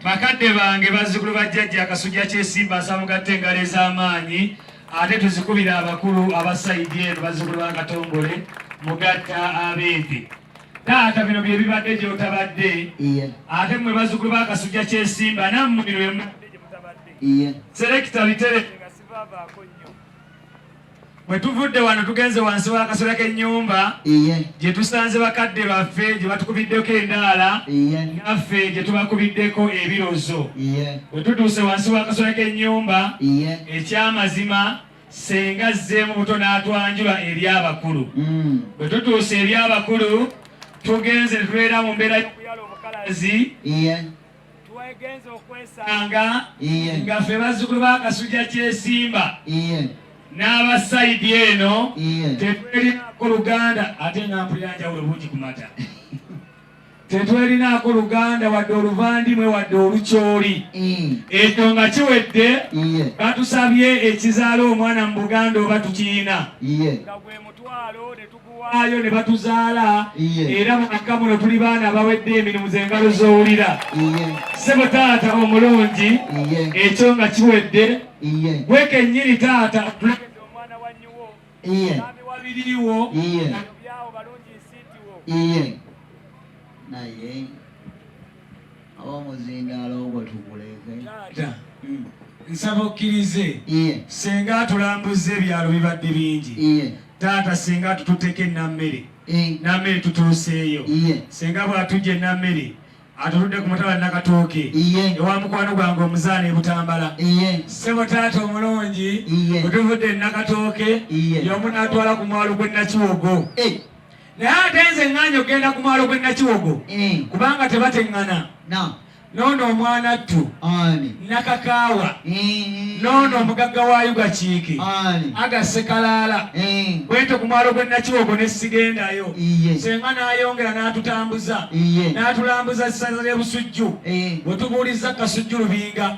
Bakadde bange bazzukulu ba jjajja Kasujja Kyesimba nsaba mugatte engalo ez'amaanyi ate tuzikubire abakulu aba sayidi eno bazzukulu ba Katongole mugatta abeevi taata bino bye bibadde gy'otabadde ate mmwe bazzukulu ba Kasujja Kyesimba nammwe bino bye mubadde gye mutabadde selekita bitere nga sivaavaako nnyo Bwe tuvudde wano tugenze wansi w'akasera k'ennyumba gye tusanze bakadde baffe gye batukubiddeko endaala naffe gye tubakubiddeko ebirozo. Bwe tutuuse wansi w'akasera k'ennyumba eky'amazima senga azzeemu buto n'atwanjula eri abakulu. Mm. Bwe tutuuse eri abakulu tugenze ne tubeera mu mbeera y'omuyala omukalazi twegenze okwesanga nga ffe bazzukulu ba kasujja kyesimba n'aba sayidi eno tetwerinaako luganda ate nga mpulira njawulo bungi ku mata tetwerinaako luganda wadde oluvandimwe wadde olukyoli mm. ekyo nga kiwedde batusabye ekizaala omwana mu buganda oba tukirina nga gwe mutwalo waayo ne batuzaala era mu makka muno tuli baana abawedde emirimu z'engalo z'owulira ssebo taata omulungi ekyo nga kiwedde gwe kennyini taata omwana wa nyiwo ami wabiriwo byawo balungi nsiitiwo naye Ab'omuzindaalo ogwo tuguleeke. Taata, hmm. nsaba okkirize senga atulambuzza ebyalo bibadde bingi taata senga tututeko enammere nammere tutuuseeyo senga bw'atujja enammere atuludde ku mutala nakatooke ewa mukwano gwange omuzaana ebutambala sebo taata omulungi otuvudde nakatooke yomu natwala ku mwalo gwe nakiwogo eh. naye ate nze ŋŋaanyi okugenda ku mwalo gw'e nakiwogo eh. kubanga tebateŋŋana noono omwana ttu nakakaawa eh. noono omugagga wa yugakiike aga sekalaala eh. bwentyo ku mwalo gw'e nakiwogo ne sigendayo senga n'ayongera n'atutambuza n'atulambuza essaza ly'ebusujju bwe tubuulizza kasujju lubinga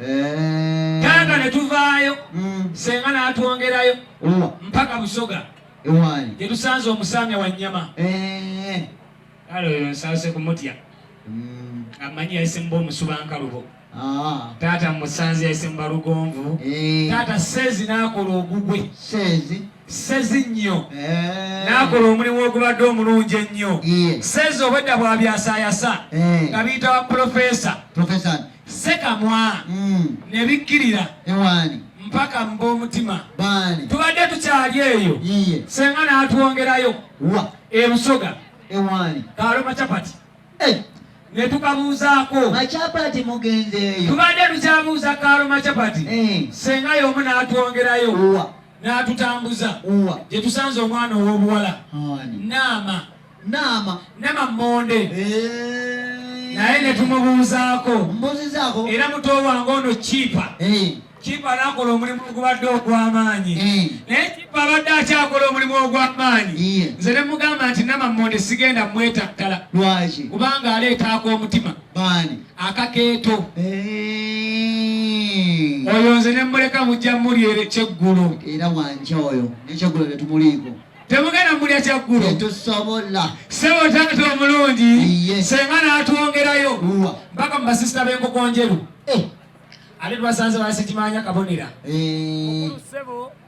eh. taata ne tuvaayo mm. senga n'atwongerayo oh. mpaka busoga gye tusanze omusaamya wa nnyama eh. kale oyo nsaase kumutya mm. amanyi yayise muba omusubankalubo ah. taata musanze yayise mubalugonvu eh. taata seezi n'akola ogugwe sezi nnyo eh. n'akola omulimu ogubadde omulungi ennyo sezi obwedda bwabyasayasa eh. nga biyita wa pulofesa sekamwa hmm. ne bikkirira mpaka mu b'omutima tubadde tukyali eyo senga n'atwongerayo ebusoga kaloma capati eh. ne tukabuuzaako macapati mugenzeeyo tubadde tukyabuuza kaloma capati senga y'omu n'atwongerayo n'atutambuza gye tusanze omwana ow'obuwala naama naama nama mmonde eh. naye ne tumubuuzaako mbuuzizaako era muto wange ono kiipa eh. kiipa n'akola omulimu ogubadde ogw'amaanyi eh. naye kiipa abadde akyakola omulimu ogw'amaanyi nze ne mugamba nti nama mmonde sigenda mwetattala lwaki kubanga aleetaako omutima baani akakeeto oyo nze ne mmuleka mujja muli ere kyeggulo era wanja oyo nekyeggulo tetumuliiko temugenda mulya kyeggulo tetusobola sebo taata omulungi senga n'atwongerayo mpaka mu basisita b'enkoko njeru eh. ate tubasanze basikimanya kabonera eh.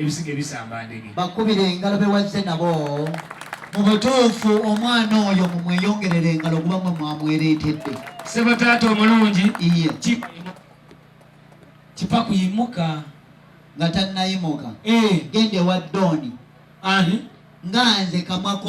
ebisiga ebisamba ndege bakubire engalo bewazze nabo mu butuufu omwana oyo mumweyongerera engalo kuba mwe mwamwereetedde sebataata omulungi iye kipa kuyimuka nga tannayimuka eh. genda ewa dooni nga nze kamwako